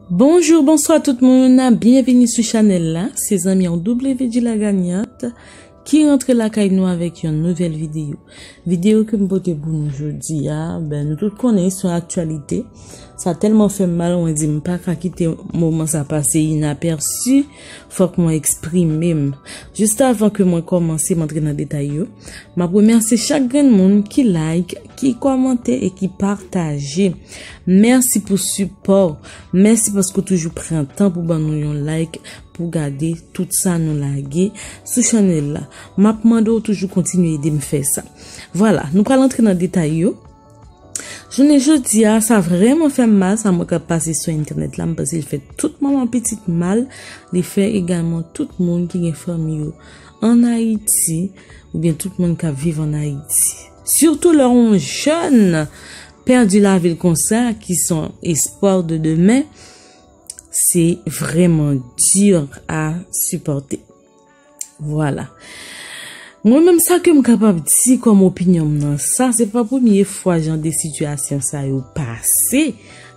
Bonjour bonswa tout moun, byenvini sou chanèl la, se zanmi an WD la gagnante ki rantre lakay nou avèk yon nouvèl videyo. Videyo ke m pote pou nou jodi a, ben nou tout konnen sou aktualite, sa tèlman fè m mal mwen di m pa ka kite moman sa pase inaperçu. Fòk mwen eksprime m. Just avan ke mwen kòmanse m antre nan detay yo, m ap remèsye chak grenn moun ki like, ki kòmante e ki pataje. Mèsi pou sipò w. Mèsi paske w toujou pran tan pou ban nou yon like, pou w gade tout sa nou lage sou channel la. M ap mande w toujou kontinye ede m fè sa. Vwala, nou pral antre nan detay yo. Jounen jodi a, sa vreman fè m mal sa mwen kap pase sou entènèt la, m panse l fè tout manman pitit mal, li fè egalman tout moun ki gen fanmi yo an Ayiti oubyen tout moun kap viv an Ayiti. Sitou lè yon jèn pèdi lavi l konsa ki se yon espwa de demen, se vreman di a sipòte. Vwala. Mwen menm sa ke m kapab di kòm opinyon m nan sa, se pa premye fwa jan de sitiyasyon sa yo pase.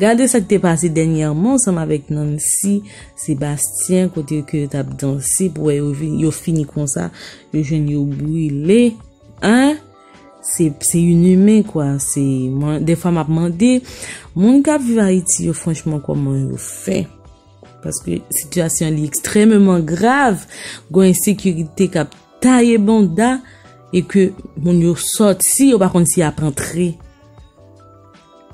Gade sa k te pase dènyèman ansanm avèk Nancy Sébastien kote ke yo t ap danse pou wè yo vin, yo fini konsa, yo jwenn yo brile. An? Se, se yn imen kwa. Se, mwen, dèfwa m ap mande, moun k ap viv Ayiti yo franchman kòman yo fè? Paske sitiyasyon li ekstrememan grav, gwen ensekirite kap taye bonda, e ke moun yo sot si yo pa konn si ap antre.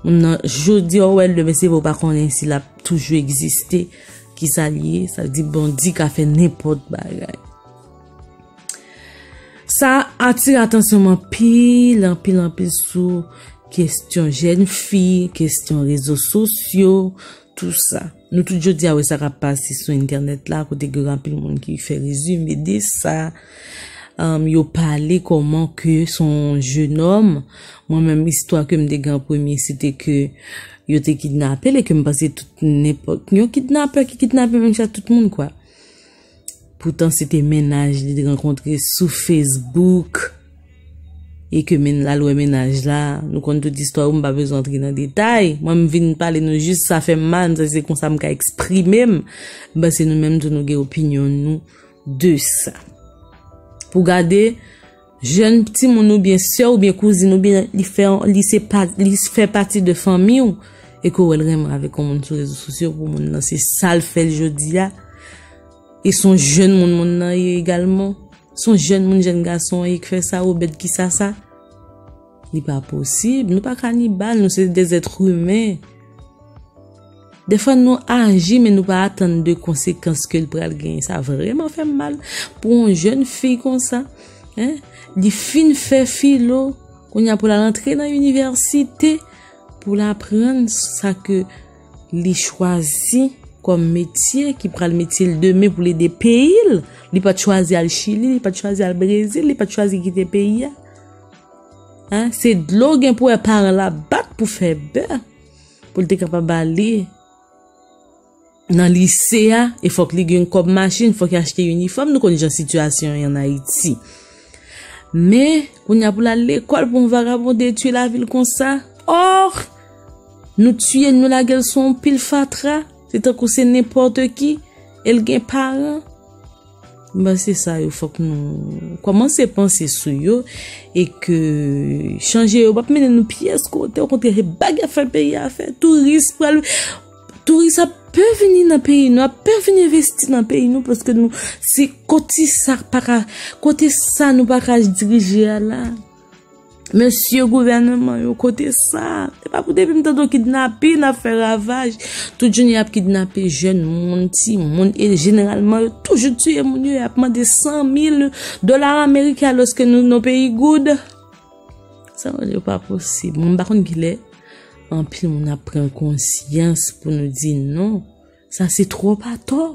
Moun nan jodi yo wèl, demen se yo pa konn si lap toujou egziste, ki sa li ye, sa di bandi ka fè nenpot bagay. Sa atire atansyon mwen pil, anpil, anpil sou kestyon jèn fi, kestyon rezo sosyo, Tout sa. Nou tout jodi a wè sa kap pase sou entènèt la kote gen anpil moun ki fè rezime de sa. Yo pale kòman ke son jenòm. Mwen menm istwa ke m te gen an premye se te ke yo te kidnape l e ke m panse tout nenpòt. Yon kidnapè ki kidnape menm jan ak tout moun kwa. Poutan se te mennaj li te rankontre sou Facebook e ke menn la lwe mennaj la. Nou konn tout istwa ou m pa bezwen antre nan detay. Mwen m vin pale nou jis sa fè m mal, m santi se konsa m ka eksprime m. M panse nou menm tou nou gen opinyon nou de sa. Pou gade. Jèn timoun ou byen sè ou byen kouzin ou byen li fè li se pa li fè pati de fanmi ou e ke ou wè l renmen avèk yon moun sou rezo sosyo pou moun nan se sa l fè l jodi a e s on jèn moun moun nan ye egalman s on jèn moun jèn gason an ye k fè sa Obed kisa sa. Li pa posib, nou pa kanibal, nou se de zèt humen. De fwa nou aji men nou pa atann de konsekans ke l pral gen. Sa vreman fè m mal pou yon jèn fi konsa. Li fin fè filo, kounye a pou l al antre nan inivèsite, pou l aprann sa ke li chwazi kòm metye ki pral metye l demen pou l ede peyi l. Li pa t chwazi al Chili, li pa t chwazi al Brezil, li pa t chwazi kite peyi a. Hein, se dlo gen pou wè paran la bat pou fè bè, pou l te kapab ale nan lise a, e fòk li gen kòb machin, fòk li achte inifòm, nou konn jan sitiyasyon an Ayiti. Men, kounye a pou l al lekòl pou yon vagabon detwi lavi l konsa, or, nou tiye l, nou lage l sou yon pil fatra, se tankou se nenpòte ki, e l gen paran. Mwen se sa yo fok nou komanse panse sou yo e ke chanje yo pap mene nou pyes kote o kontre se bagy ap fè peyi a fè touris pral touris ap pe vini nan peyi nou ap pe vini envesti nan peyi nou paske nou se koti sa kote sa nou pa ka dirije a la. Mesye gouvèneman yo kote sa? Se pa pou depi m tande kidnapin ap fè ravaj, tout jounen y ap kidnape jèn moun, ti moun, e jeneralman yo toujou tiye moun yo, y ap mande 100.000 dola ameriken alòske nou nan peyi goud. Sa yo di yo pa posib. Mwen pa konn kilè anpil moun ap pran konsyans pou nou di non. Sa se twòp atò!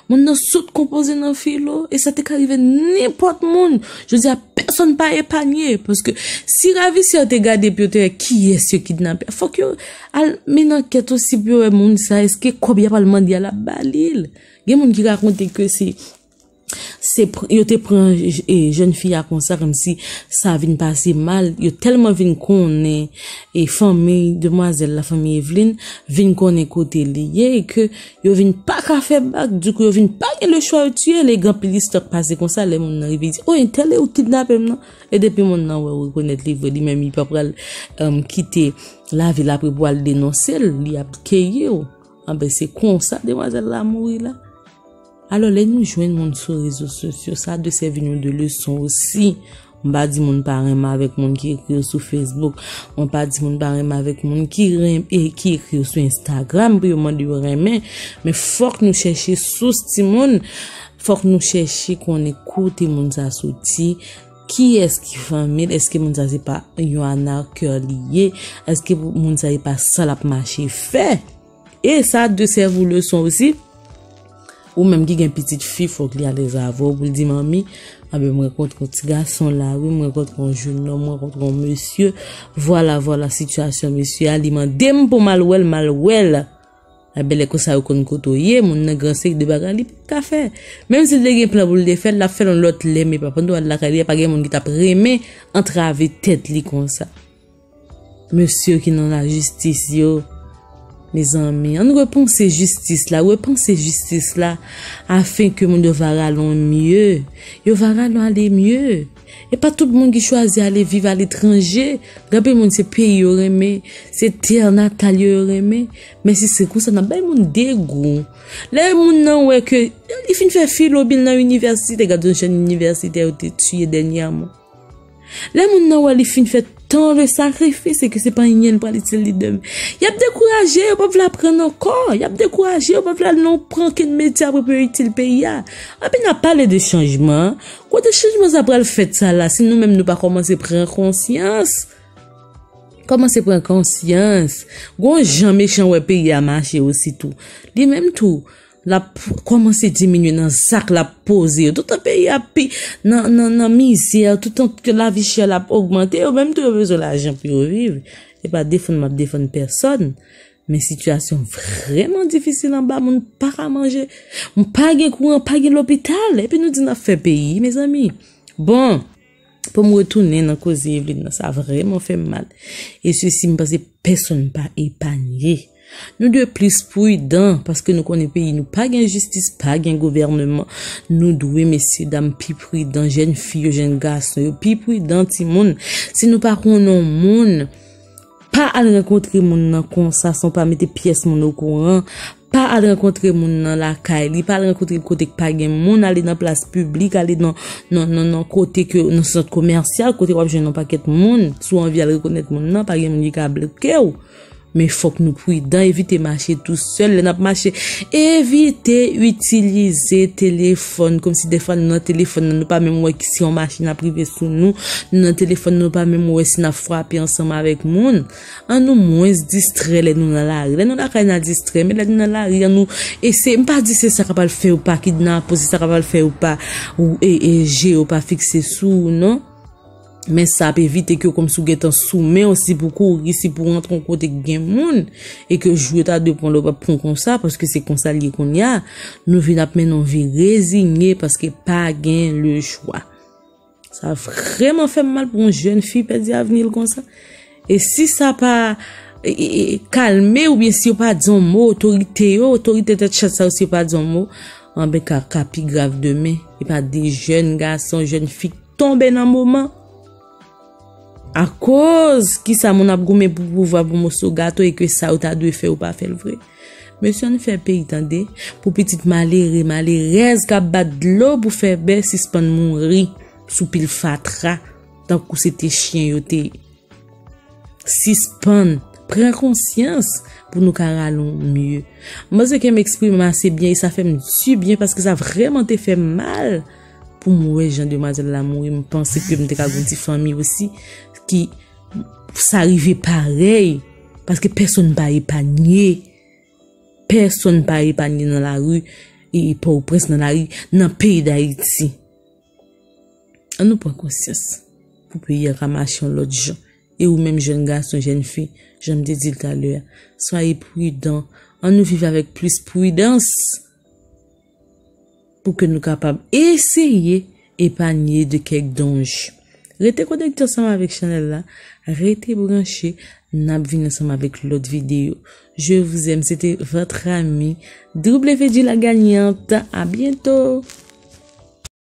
Monn nan sot konpoze nan filo, e sa te ka rive nenpòt moun. Jodi a, pèsonn pa epanye, paske si ravisè yo te gade pou yo te wè kiyès yo kidnape a, fòk yo al mennen ankèt osi pou yo wè moun sa a, èske kòb y ap al mande a l ap ba li l. Gen moun ki rakonte ke se. Yo te pran jèn fi a konsa kòmsi sa vin pase mal. Yo tèlman vin konnen e fanmi demwazèl la, fanmi Evlin, vin konnen kote li ye e ke yo vin pa ka fè bak. Dikou yo vin pa gen lechwa yo tiye l e gen anpil istwa k pase konsa lè moun nan rive di, O entèl e ou k kidnape m nan. E depi moun nan wè ou rekonèt li vre li menm li pa pral kite lavi l apre pou al denonse l, li ap keyi ou. Anben se konsa demwazèl la mouri la. Alò lè nou jwenn moun sou rezo sosyo sa dwe sèvi nou de leson osi. Mwen pa di moun pa renmen avèk moun ki ekri yo sou Facebook, mwen pa di moun pa renmen avèk moun ki renmen e ki ekri yo sou Instagram pou yo mande yo renmen, men fòk nou chèche sous timoun, fòk nou chèche konnen kote moun sa soti, kiyès ki fanmi l, èske moun sa se pa yon anarkè li ye, èske moun sa e pa sa l ap mache fè. E sa de sèv ou leson osi. Ou menm ki gen pitit fi fòk li alèz avè w pou l di manmi anben m rankontre yon ti gason la wi, m rankontre yon jèn nonm, m rankontre yon mesye, vwala vwala sitiyasyon mesye a, li mande m pou m al wè l, m al wè l. Anben lè konsa yo konn kote w ye, moun nan gran sèk de bagay li pap ka fè. Menm si l te gen plan pou l te fè l, l ap fè l yon lòt lè men pa pandan w al lakay li a pa gen moun ki t ap renmen antrave tèt li konsa. Mesye ki nan la jistis yo. Mezanmi, ann repanse jistis la, repanse jistis la, afen ke moun yo va ralon mye, yo va ralon ale mye. E pa tout moun ki chwazi ale viv ale tranje, gabe moun se peyi yo renmen, se tè an natal yo yo renmen, men si se konsa nan bay moun degou. Lè moun nan wè ke, li fin fè filo bil nan inivèsite, gade yon jèn inivèsite yo te tiye dènyèman. Lè moun nan wè li fin fè tan de sakrifis e ke se pa anyen li pral itil li demen, y ap dekouraje, yo pa vle aprann ankò, y ap dekouraje, yo pa vle al nan okenn metye apre pou yo itil peyi a. Epi n ap pale de chanjman, kote chanjman sa pral fèt sa la si nou menm nou pa kòmanse pran konsyans? Kòmanse pran konsyans. Gon jan mechan wè peyi a mache osi tou. Li menm tou. Lap kòmanse diminye nan zak lap poze yo. Toutan peyi a ap pi nan mizè, toutan ke lavi chè la ap ogmante, yo menm tou yo bezwen lajan pou yo viv. E pa defann map defann pèsòn, men sitiyasyon vreman difisil anba, moun pa ka manje, moun pa gen kouran, pa gen lopital, epi nou di nap fè peyi, mezanmi. Bon! Pou m retounen nan koze Evelyne nan, sa vrèman fè m mal. E sesi m panse pèsonn pa epanye. Nou dwe plis pridan paske nou konnen peyi nou pa gen jistis, pa gen gouvèneman. Nou dwe mesye dam pi pridan, jèn fi yo, jèn gason yo, pi pridan timoun. Si nou pa konnen yon moun. Pa al rankontre moun nan konsa san w pa mete pyès moun okouran, pa al rankontre moun nan lakay li, pa al rankontre l kote k pa gen moun, ale nan plas piblik, ale nan kote ke, nan sant komèsyal, kote w ap jwenn yon pakèt moun, si w anvi al rekonèt moun nan, pa gen moun ki ka bloke w, men fòk nou pridan, evite mache tou. Sèl lè n ap mache. Evite itilize telefòn kòm si defwa nou nan telefòn nan nou pa menm wè si yon machin ap rive sou nou. Nou nan telefòn nan nou pa menm wè si n ap frape ansanm avèk moun. An nou mwens distrè lè nou nan lari. Lè nou lakay n a distrè men lè nou nan lari an nou eseye. M pa di se sa k ap al fè yo pa kidnape w, se sa k ap al fè yo pa je yo pa fikse sou ou non. Men sa ap evite ke w kòmsi w gentan sou men w, si pou kouri, si pou rantre yon kote k gen moun, e ke jou yo ta dwe pran lè w pa p pran konsa, paske se konsa l ye kounye a, nou vin ap mennen yon vi rezinye paske pa gen lechwa. Sa vreman fè m mal pou yon jèn fi pèdi avni l konsa. E si sa pa kalme ou byen si yo pa di yon mo, otorite yo, otorite tèt chat sa yo si yo pa di yon mo, anben ka ka pi grav demen. E pa de jèn gason, jèn fi k tonbe nan moman. A koz ki sa moun ap goumen pou pouvwa pou moso gato e ke sa yo ta dwe fè yo pa fè l vre. Mesye ann fè peyi tande pou pitit malere, malerèz k ap bat dlo pou fè bè sispann mouri sou pil fatra. Tankou se te chyen yo te ye. Sispann, pran konsyans pou nou ka ralon mye. Mwen se ke m eksprime m ase byen e sa fè m di byen paske sa vreman te fè mal pou m wè jan demwazèl la mouri. M panse ke m te ka gon ti fanmi osi ki sa rive parèy paske pèsonn pa epanye. Pèsonn pa epanye nan lari e pò ou prens nan lari nan peyi dayiti. An nou pran konsyans pou peyi a ka mache yon lòt jan. E ou menm jèn gason, jèn fi, jan m te di l talè a, swaye pridan. An nou viv avèk plis pridans pou ke nou kapab eseye epanye de kèk danje. Rete konekte ansanm avèk chanèl la, rete branche, n ap vini ansanm avèk lòt videyo. Je vous aime, se te votre amie WD la gagnante. A byento!